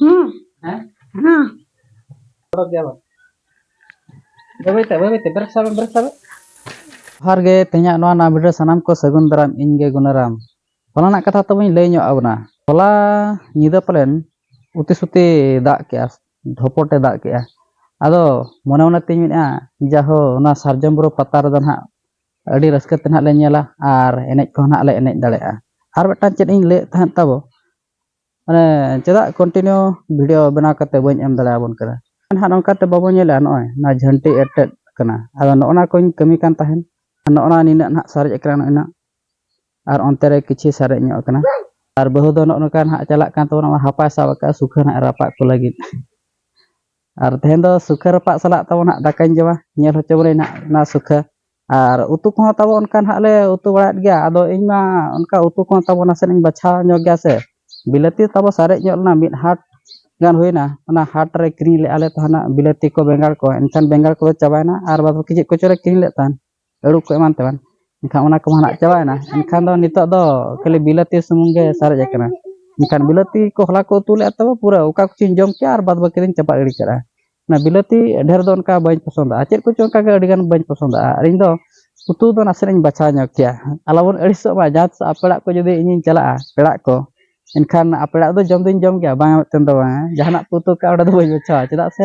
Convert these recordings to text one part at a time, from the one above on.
ಹ್ಮ್ ಹಾ ᱡᱚᱦᱟᱨ ᱜᱮ ᱛᱮᱦᱮᱧᱟᱜ ᱱᱚᱣᱟ ᱱᱟᱣᱟ ᱵᱷᱤᱰᱤᱭᱳ ᱥᱟᱱᱟᱢ ᱠᱚ ᱥᱟᱹᱜᱩᱱ ᱫᱟᱨᱟᱢ ᱤᱧ ᱜᱮ ᱜᱩᱱᱟᱨᱟᱢ ᱦᱚᱞᱟᱱᱟᱜ ᱠᱟᱛᱷᱟ ᱛᱚᱵᱮᱧ ᱞᱟᱹᱭ ᱧᱚᱜ ᱟᱵᱚᱱᱟ ᱦᱚᱞᱟ ᱧᱤᱫᱟᱹ ᱯᱟᱞᱮᱱ ᱩᱛᱤ ᱥᱩᱛᱤ ᱫᱟᱜ ᱠᱮᱜᱼᱟ ᱰᱷᱚᱯᱚᱴᱮ ᱫᱟᱜ ᱠᱮᱜᱼᱟ ᱟᱫᱚ ᱢᱚᱱᱮ ᱢᱚᱱᱮ ᱛᱤᱧ ᱢᱮᱱᱮᱜᱼᱟ ᱡᱟᱦᱳ ᱚᱱᱟ ᱥᱟᱨᱡᱚᱢ ᱵᱩᱨᱩ ᱯᱟᱛᱟ ᱨᱮᱫᱚ ᱱᱟᱦᱟᱜ ᱟᱹᱰᱤ ᱨᱟᱹᱥᱠᱟᱹ ᱛᱮ ᱱᱟᱦᱟᱜ ᱞᱮ ᱧᱮᱞᱟ ᱟᱨ ᱮᱱᱮᱡ ᱠᱚᱦᱚᱸ ᱱᱟᱦᱟᱜ ᱞᱮ ᱮᱱᱮᱡ ᱫᱟᱲᱮᱭᱟᱜᱼᱟ ᱟᱨ ᱢᱤᱫᱴᱟᱝ ᱪᱮᱫ ᱤᱧ ᱞᱟᱹᱭᱮᱫ ᱛᱟᱦᱮᱸᱫ ᱛᱟᱵᱚ ᱢᱟᱱᱮ ᱪᱮᱫᱟᱜ ᱠᱚᱱᱴᱤᱱᱤᱭᱩ ᱵᱷᱤᱰᱭᱳ ᱵᱮᱱᱟᱣ ᱠᱟᱛᱮᱫ ᱵᱟᱹᱧ ᱮᱢ ᱫᱟᱲᱮᱭᱟᱵᱚᱱ ᱠᱟᱱᱟ ᱱᱟᱦᱟᱜ ᱱᱚᱝᱠᱟᱛᱮ ᱵᱟᱵᱚ ᱧᱮᱞᱟ ᱱᱚᱜᱼᱚᱭ ᱱᱚᱣᱟ ᱡᱷᱟᱹᱱᱴᱤ ᱮᱴᱮᱫ ᱠᱟᱱᱟ ᱟᱫᱚ ᱱᱚᱜᱼᱚ ᱱᱟ ᱠᱚᱧ ᱠᱟᱹᱢᱤ ᱠᱟᱱ ᱛᱟᱦᱮᱱ ᱱᱚᱜᱼᱚ ᱱᱟ ᱱᱤᱱᱟᱹᱜ ᱱᱟᱦᱟᱜ ᱥᱟᱨᱮᱡ ᱟᱠᱟᱱᱟ ᱱᱚᱜᱼᱚᱭ ᱱᱟᱦᱟᱜ ᱟᱨ ᱚᱱᱛᱮ ᱨᱮ ᱠᱤᱪᱷᱩ ᱥᱟᱨᱮᱡ ᱧᱚᱜ ᱟᱠᱟᱱᱟ ᱟᱨ ᱵᱟᱹᱦᱩ ᱫᱚ ᱱᱚᱜᱼᱚ ᱱᱚᱝᱠᱟ ᱱᱟᱦᱟᱜ ᱪᱟᱞᱟᱜ ᱠᱟᱱ ᱛᱟᱵᱚᱱᱟ ᱦᱟᱯᱟᱭ ᱥᱟᱵ ᱟᱠᱟᱫᱼᱟ ᱥᱩᱠᱷᱟᱹ ᱱᱟᱦᱟᱜ ᱨᱟᱯᱟᱜ ᱠᱚ ᱞᱟᱹᱜᱤᱫ ᱟᱨ ᱛᱮᱦᱮᱧ ᱫᱚ ᱥᱩᱠᱷᱟᱹ ᱨᱟᱯᱟᱜ ᱥᱟᱞᱟᱜ ᱛᱟᱵᱚ ᱱᱟᱦᱟᱜ ᱫᱟᱠᱟᱧ ᱡᱚᱢᱟ ᱧᱮᱞ ᱦᱚᱪᱚ ᱵᱚᱱᱟᱹᱧ ᱱᱟᱦᱟᱜ ᱚᱱᱟ ᱥᱩᱠᱷᱟᱹ ᱟᱨ ᱩᱛᱩ ᱠᱚᱦᱚᱸ ᱛᱟᱵᱚ ᱚᱱᱠᱟ ᱱᱟᱦᱟᱜ ᱞᱮ ᱩᱛᱩ ᱵᱟᱲᱟᱭᱮᱫ ᱜᱮᱭᱟ ᱟᱫᱚ ᱤᱧ ᱢᱟ ᱚᱱᱠᱟ ᱩᱛᱩ ᱠᱚᱦᱚᱸ ᱛᱟᱵᱚ ᱱᱟᱥᱮᱱᱟᱜ ᱤᱧ ᱵᱟᱪᱷᱟᱣ ᱧᱚᱜᱽ ᱜᱮᱭᱟ ᱥᱮ ᱵᱤᱞᱟᱹᱛᱤ ᱛᱟᱵᱚ ᱥᱟᱨᱮᱡ ᱧᱚᱜ ᱞᱮᱱᱟ ᱢᱤᱫ ᱦᱟᱴ ᱜᱟᱱ ᱦᱩᱭᱮᱱᱟ ᱚᱱᱟ ᱦᱟᱴ ᱨᱮ ᱠᱤᱨᱤᱧ ᱞᱮᱫᱼᱟ ᱞᱮ ᱛᱟᱦᱮᱱᱚᱜ ᱵᱤᱞᱟᱹᱛᱤ ᱠᱚ ᱵᱮᱸᱜᱟᱲ ᱠᱚ ᱮᱱᱠᱷᱟᱱ ᱵᱮᱸᱜᱟᱲ ᱠᱚᱫᱚ ᱪᱟᱵᱟᱭᱮᱱᱟ ᱟᱨ ᱵᱟᱫᱽ ᱵᱟᱹᱠᱤ ᱪᱮᱫ ᱠᱚᱪᱚᱞᱮ ᱠᱤᱨᱤᱧ ᱞᱮᱫ ᱛᱟᱦᱮᱱ ᱟᱹᱲᱩ ᱠᱚ ᱮᱢᱟᱱ ᱛᱮᱢᱟᱱ ᱮᱱᱠᱷᱟᱱ ᱚᱱᱟ ᱠᱚᱢᱟ ᱱᱟᱦᱟᱜ ᱪᱟᱵᱟᱭᱮᱱᱟ ᱮᱱᱠᱷᱟᱱ ᱫᱚ ᱱᱤᱛᱚᱜ ᱫᱚ ᱠᱷᱟᱹᱞᱤ ᱵᱤᱞᱟᱹᱛᱤ ᱥᱩᱢᱩᱝ ᱜᱮ ᱥᱟᱨᱮᱡ ᱟᱠᱟᱱᱟ ᱮᱱᱠᱷᱟᱱ ᱵᱤᱞᱟᱹᱛᱤ ᱠᱚ ᱦᱚᱞᱟ ᱠᱚ ᱩᱛᱩ ᱞᱮᱫᱼᱟ ᱛᱟᱵᱚ ᱯᱩᱨᱟᱹ ᱚᱠᱟ ᱠᱚᱪᱚᱧ ᱡᱚᱢ ᱠᱮᱫᱼᱟ ᱟᱨ ᱵᱟᱫᱽ ᱵᱟᱹᱠᱤ ᱫᱚᱧ ᱪᱟᱯᱟᱫ ᱜᱤᱰᱤ ᱠᱟᱫᱼᱟ ᱚᱱᱟ ᱵᱤᱞᱟᱹᱛᱤ ᱰᱷᱮᱨ ᱫᱚ ᱚᱱᱠᱟ ᱵᱟᱹᱧ ᱯᱚᱥᱚᱱᱫᱟᱜᱼᱟ ᱪᱮᱫ ᱠᱚᱪᱚ ᱚᱱᱠᱟ ᱜᱮ ᱟᱹᱰᱤᱜᱟᱱ ᱵᱟᱹᱧ ᱯᱚᱥᱚᱱᱫᱟᱜᱼᱟ ᱟᱨ ᱤᱧ ᱫᱚ ᱩᱛᱩ ᱫᱚ ᱱᱟᱥᱮᱱᱟᱜ ᱤᱧ ᱵᱟᱪᱷᱟᱣ ᱧᱚᱜᱽ ᱜᱮᱭᱟ ᱟᱞᱚ ᱵᱚᱱ ᱟᱹᱲᱤᱥᱚᱜ ᱢᱟ ᱡᱟᱦᱟᱸ ᱛᱤᱥᱚᱜ ᱟᱯᱮᱲᱟᱜ ᱠᱚ ᱡᱩᱫᱤ ᱤᱧᱤᱧ ᱪᱟᱞᱟᱜᱼᱟ ᱯᱮᱲᱟᱜ ᱠᱚ ᱮᱱᱠᱷᱟᱱ ᱟᱯᱮᱲᱟᱜ ᱫᱚ ᱡᱚᱢ ᱫᱚᱧ ᱡᱚᱢ ᱜᱮᱭᱟ ᱵᱟᱝ ᱢᱮᱱᱛᱮ ᱫᱚ ᱵᱟᱝ ᱡᱟᱦᱟᱱᱟᱜ ᱯᱮ ᱩᱛᱩ ᱠᱟᱜᱼᱟ ᱚᱸᱰᱮ ᱫᱚ ᱵᱟᱹᱧ ᱵᱟᱪᱷᱟᱣᱟ ᱪᱮᱫᱟᱜ ᱥᱮ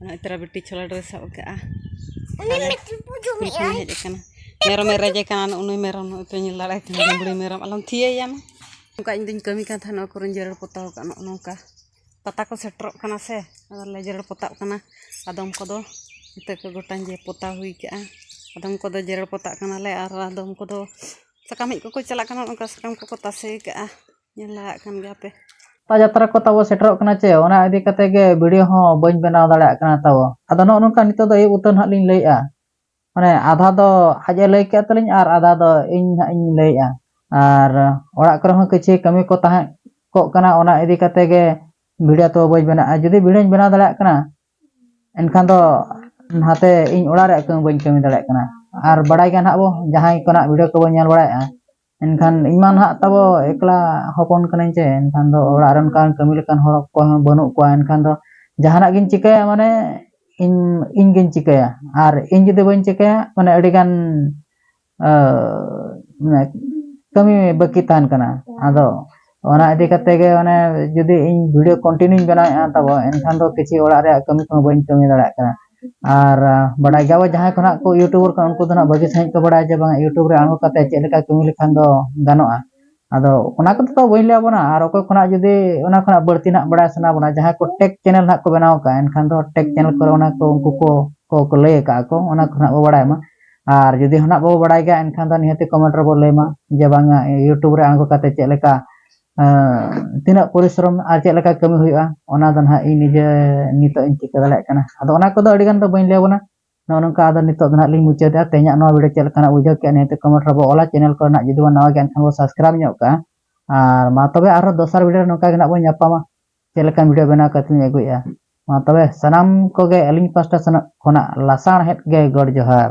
ᱱᱚᱜᱼᱚᱭ ᱛᱟᱨᱟ ᱵᱤᱴᱤ ᱪᱷᱚᱞᱟ ᱰᱨᱮᱥ ᱥᱟᱵ ᱟᱠᱟᱫᱼᱟ ᱥᱠᱩᱞ ᱠᱷᱚᱱ ᱦᱮᱡ ᱟᱠᱟᱱᱟ ᱢᱮᱨᱚᱢᱮ ᱨᱮᱡᱮ ᱠᱟᱱᱟ ᱩᱱᱤ ᱢᱮᱨᱚᱢ ᱱᱚᱜᱼᱚᱭ ᱯᱮ ᱧᱮᱞ ᱫᱟᱲᱮᱭᱟᱭ ᱠᱟᱱᱟ ᱰᱩᱢᱵᱲᱤ ᱢᱮᱨᱚᱢ ᱟᱞᱚᱢ ᱛᱷᱤᱭᱟᱹᱭᱟ ᱢᱟ ᱚᱱᱠᱟ ᱤᱧ ᱫᱚᱧ ᱠᱟᱹᱢᱤ ᱠᱟᱱ ᱛᱟᱦᱮᱱᱟ ᱱᱚᱣᱟ ᱠᱚᱨᱮᱧ ᱡᱮᱨᱮᱲ ᱯᱚᱛᱟᱣ ᱠᱟᱜᱼᱟ ᱱᱚᱜᱼᱚ ᱱᱚᱝᱠᱟ ᱯᱟᱛᱟ ᱠᱚ ᱥᱮᱴᱮᱨᱚᱜ ᱠᱟᱱᱟ ᱥᱮ ᱟᱫᱚᱞᱮ ᱡᱮᱨᱮᱲ ᱯᱚᱛᱟᱜ ᱠᱟᱱᱟ ᱟᱫᱚᱢ ᱠᱚᱫᱚ ᱤᱛᱟᱹ ᱠᱚ ᱜᱚᱴᱟᱧ ᱡᱮ ᱯᱚᱛᱟᱣ ᱦᱩᱭ ᱠᱟᱜᱼᱟ ᱟᱫᱚᱢ ᱠᱚᱫᱚ ᱡᱮᱨᱮᱲ ᱯᱚᱛᱟᱜ ᱠᱟᱱᱟᱞᱮ ᱟᱨ ᱟᱫᱚᱢ ᱠᱚᱫᱚ ᱥᱟᱠᱟᱢ ᱦᱮᱡ ᱠᱚᱠᱚ ᱪᱟᱞᱟᱜ ᱠᱟᱱᱟ ᱚᱱᱠᱟ ᱥᱟᱠᱟᱢ ᱠᱚᱠᱚ ᱛᱟᱥᱮ ᱠᱟᱜᱼᱟ ᱧᱮᱞ ᱫᱟᱲᱮᱭᱟᱜ ᱠᱟᱱ ᱜᱮᱭᱟ ᱯᱮ ᱯᱟᱛᱟ ᱡᱟᱛᱨᱟ ᱠᱚ ᱛᱟᱵᱚ ᱥᱮᱴᱮᱨᱚᱜ ᱠᱟᱱᱟ ᱪᱮ ᱚᱱᱟ ᱤᱫᱤ ᱠᱟᱛᱮ ᱜᱮ ᱵᱷᱤᱰᱤᱭᱳ ᱦᱚᱸ ᱵᱟᱹᱧ ᱵᱮᱱᱟᱣ ᱫᱟᱲᱮᱭᱟᱜ ᱠᱟᱱᱟ ᱛᱟᱵᱚ ᱟᱫᱚ ᱱᱚᱜᱼᱚ ᱱᱚᱝᱠᱟ ᱱᱤᱛᱚᱜ ᱫᱚ ᱟᱹᱭᱩᱵ ᱩᱛᱟᱹᱨ ᱱᱟᱦᱟᱜ ᱞᱤᱧ ᱞᱟᱹᱭᱮᱜᱼᱟ ᱢᱟᱱᱮ ᱟᱫᱷᱟ ᱫᱚ ᱟᱡ ᱮ ᱞᱟᱹᱭ ᱠᱮᱫ ᱛᱟᱹᱞᱤᱧ ᱟᱨ ᱟᱫᱷᱟ ᱫᱚ ᱤᱧ ᱱᱟᱦᱟᱜ ᱤᱧ ᱞᱟᱹᱭᱮᱜᱼᱟ ᱟᱨ ᱚᱲᱟᱜ ᱠᱚᱨᱮ ᱦᱚᱸ ᱠᱤᱪᱷᱤ ᱠᱟᱹᱢᱤ ᱠᱚ ᱛᱟᱦᱮᱸ ᱠᱚᱜ ᱠᱟᱱᱟ ᱚᱱᱟ ᱤᱫᱤ ᱠᱟᱛᱮ ᱜᱮ ᱵᱷᱤᱰᱤᱭᱳ ᱛᱚ ᱵᱟᱹᱧ ᱵᱮᱱᱟᱜᱼᱟ ᱡᱩᱫᱤ ᱵᱷᱤᱰᱤᱭᱳᱧ ᱵᱮᱱᱟᱣ ᱫᱟᱲᱮᱭᱟᱜ ᱠᱟᱱᱟ ᱮᱱᱠᱷᱟᱱ ᱫᱚ ᱱᱟᱛᱮ ᱤᱧ ᱚᱲᱟᱜ ᱨᱮᱭᱟᱜ ᱠᱟᱹᱢᱤ ᱵᱟᱹᱧ ᱠᱟᱹᱢᱤ ᱫᱟᱲᱮᱭᱟᱜ ᱠᱟᱱᱟ ᱟᱨ ᱵᱟᱲᱟᱭ ᱜᱮᱭᱟ ᱱᱟᱦᱟᱜ ᱵᱚ ᱡᱟᱦᱟᱸᱭ ᱠᱚ ᱱᱟᱦᱟᱜ ᱵᱷᱤᱰᱤᱭᱳ ᱠᱚᱵᱚ ᱧᱮᱞ ᱵᱟᱲᱟᱭᱮᱜᱼᱟ ᱮᱱᱠᱷᱟᱱ ᱤᱧ ᱢᱟ ᱱᱟᱦᱟᱜ ᱛᱟᱵᱚ ᱮᱠᱞᱟ ᱦᱚᱯᱚᱱ ᱠᱟᱹᱱᱟᱹᱧ ᱪᱮ ᱮᱱᱠᱷᱟᱱ ᱫᱚ ᱚᱲᱟᱜ ᱨᱮ ᱚᱱᱠᱟᱱ ᱠᱟᱹᱢᱤ ᱞᱮᱠᱟᱱ ᱦᱚᱲ ᱚᱠᱚᱭ ᱦᱚᱸ ᱵᱟᱹᱱᱩᱜ ᱠᱚᱣᱟ ᱮᱱᱠᱷᱟᱱ ᱫᱚ ᱡᱟᱦᱟᱱᱟᱜ ᱜᱤᱧ ᱪᱤᱠᱟᱹᱭᱟ ᱢᱟᱱᱮ ᱤᱧ ᱤᱧ ᱜᱤᱧ ᱪᱤᱠᱟᱹᱭᱟ ᱟᱨ ᱤᱧ ᱡᱩᱫᱤ ᱵᱟᱹᱧ ᱪᱤᱠᱟᱹᱭᱟ ᱢᱟᱱᱮ ᱟᱹᱰᱤ ᱜᱟᱱ ᱠᱟᱹᱢᱤ ᱵᱟᱹᱠᱤ ᱛᱟᱦᱮᱱ ᱠᱟᱱᱟ ᱟᱫᱚ ᱚᱱᱟ ᱤᱫᱤ ᱠᱟᱛᱮ ᱜᱮ ᱢᱟᱱᱮ ᱡᱩᱫᱤ ᱤᱧ ᱵᱷᱤᱰᱤᱭᱳ ᱠᱚᱱᱴᱤᱱᱤᱭᱩᱧ ᱵᱮᱱᱟᱣᱮᱫᱼᱟ ᱛᱟᱵᱚ ᱮᱱᱠᱷᱟᱱ ᱫᱚ ᱠᱤᱪᱷᱩ ᱚᱲᱟᱜ ᱨᱮᱭᱟᱜ ᱠᱟᱹᱢᱤ ᱠᱚᱦᱚᱸ ᱵᱟᱹᱧ ᱠᱟᱹᱢᱤ ᱫᱟᱲᱮᱭᱟᱜ ᱠᱟᱱᱟ ᱟᱨ ᱵᱟᱰᱟᱭ ᱜᱮᱭᱟᱵᱚ ᱡᱟᱦᱟᱸᱭ ᱠᱚ ᱱᱟᱦᱟᱜ ᱠᱚ ᱤᱭᱩᱴᱩᱵᱟᱨ ᱠᱟᱱᱟ ᱩᱱᱠᱩ ᱫᱚ ᱱᱟᱦᱟᱜ ᱵᱷᱟᱹᱜᱤ ᱥᱟᱺᱦᱤᱡ ᱠᱚ ᱵᱟᱰᱟᱭᱟ ᱡᱮ ᱵᱟᱝ ᱤᱭᱩᱴᱩᱵᱽ ᱨᱮ ᱟᱬᱜᱚ ᱠᱟᱛᱮ ᱪᱮᱫ ᱞᱮᱠᱟ ᱠᱟᱹᱢᱤ ᱞᱮᱠᱷᱟᱱ ᱫᱚ ᱜᱟᱱᱚᱜᱼᱟ ᱟᱫᱚ ᱚᱱᱟ ᱠᱚᱫᱚ ᱛᱚ ᱵᱟᱹᱧ ᱞᱟᱹᱭᱟᱫ ᱵᱚᱱᱟ ᱟᱨ ᱚᱠᱚᱭ ᱠᱷᱚᱱᱟᱜ ᱡᱩᱫᱤ ᱚᱱᱟ ᱠᱷᱚᱱᱟᱜ ᱵᱟᱹᱲᱛᱤ ᱱᱟᱦᱟᱜ ᱵᱟᱰᱟᱭ ᱥᱟᱱᱟ ᱵᱚᱱᱟ ᱡᱟᱦᱟᱸᱭ ᱠᱚ ᱴᱮᱠ ᱪᱮᱱᱮᱞ ᱱᱟᱦᱟᱜ ᱠᱚ ᱵᱮᱱᱟᱣ ᱠᱟᱜᱼᱟ ᱮᱱᱠᱷᱟᱱ ᱫᱚ ᱴᱮᱠ ᱪᱮᱱᱮᱞ ᱠᱚᱨᱮ ᱚᱱᱟ ᱠᱚ ᱩᱱᱠᱩ ᱠᱚ ᱠᱚ ᱞᱟᱹᱭ ᱠᱟᱜᱼᱟ ᱠᱚ ᱚᱱᱟ ᱠᱚ ᱱᱟᱦᱟᱜ ᱵᱚ ᱵᱟᱰᱟᱭ ᱢᱟ ᱟᱨ ᱡᱩᱫᱤ ᱦᱚᱱᱟᱜ ᱵᱟᱵᱚ ᱵᱟᱲᱟᱭ ᱜᱮᱭᱟ ᱮᱱᱠᱷᱟᱱ ᱫᱚ ᱱᱤᱦᱟᱹᱛᱤ ᱠᱚᱢᱮᱱᱴ ᱨᱮᱵᱚ ᱞᱟᱹᱭᱢᱟ ᱡᱮ ᱵᱟᱝᱟ ᱤᱭᱩᱴᱩᱵᱽ ᱨᱮ ᱟᱬᱜᱚ ᱠᱟᱛᱮ ᱪᱮᱫ ᱞᱮᱠᱟ ᱛᱤᱱᱟᱹᱜ ᱯᱚᱨᱤᱥᱨᱚᱢ ᱟᱨ ᱪᱮᱫ ᱞᱮᱠᱟ ᱠᱟᱹᱢᱤ ᱦᱩᱭᱩᱜᱼᱟ ᱚᱱᱟ ᱫᱚ ᱱᱟᱦᱟᱜ ᱤᱧ ᱱᱤᱡᱮ ᱱᱤᱛᱚᱜ ᱤᱧ ᱪᱤᱠᱟᱹ ᱫᱟᱲᱮᱭᱟᱜ ᱠᱟᱱᱟ ᱟᱫᱚ ᱚᱱᱟ ᱠᱚᱫᱚ ᱟᱹᱰᱤ ᱜᱟᱱ ᱫᱚ ᱵᱟᱹᱧ ᱞᱟᱹᱭ ᱟᱵᱚᱱᱟ ᱱᱚᱜᱼᱚ ᱱᱚᱝᱠᱟ ᱟᱫᱚ ᱱᱤᱛᱚᱜ ᱫᱚ ᱱᱟᱦᱟᱜ ᱞᱤᱧ ᱢᱩᱪᱟᱹᱫᱟ ᱛᱮᱦᱮᱧᱟᱜ ᱱᱚᱣᱟ ᱵᱷᱤᱰᱤᱭᱳ ᱪᱮᱫ ᱞᱮᱠᱟᱱᱟᱜ ᱵᱩᱡᱷᱟᱹᱣ ᱠᱮᱫᱼᱟ ᱱᱤᱦᱟᱹᱛᱤ ᱠᱚᱢᱮᱱᱴ ᱨᱮᱵᱚ ᱚᱞᱟ ᱪᱮᱱᱮᱞ ᱠᱚᱨᱮ ᱱᱟᱦᱟᱜ ᱡᱩᱫᱤ ᱵᱚᱱ ᱱᱟᱣᱟ ᱜᱮᱭᱟ ᱮᱱᱠᱷᱟᱱ ᱵᱚ ᱥᱟᱵᱥᱠᱨᱟᱭᱤᱵᱽ ᱧᱚᱜ ᱠᱟᱜᱼᱟ ᱟᱨ ᱢᱟ ᱛᱚᱵᱮ ᱟᱨᱦᱚᱸ ᱫᱚᱥᱟᱨ ᱵᱷᱤᱰᱤᱭᱳ ᱨᱮ ᱱᱚᱝᱠᱟ ᱜᱮ ᱱᱟᱦᱟᱜ ᱵᱚᱱ ᱧᱟᱯᱟᱢᱟ ᱪᱮᱫ ᱞᱮᱠᱟᱱ ᱵᱷᱤᱰᱤᱭᱳ ᱵᱮᱱᱟᱣ ᱠᱟᱛᱮ ᱤᱧ ᱟᱹᱜᱩᱭᱮᱫᱼᱟ ᱢᱟ ᱛᱚᱵᱮ ᱥᱟᱱᱟᱢ ᱠᱚᱜᱮ ᱟᱹᱞᱤᱧ ᱯᱟᱥᱴᱟ ᱥᱮᱱᱚᱜ ᱠᱷᱚᱱᱟᱜ ᱞᱟᱥᱟᱬᱦᱮᱫ ᱜᱮ ᱜᱚᱰ ᱡᱚᱦᱟᱨ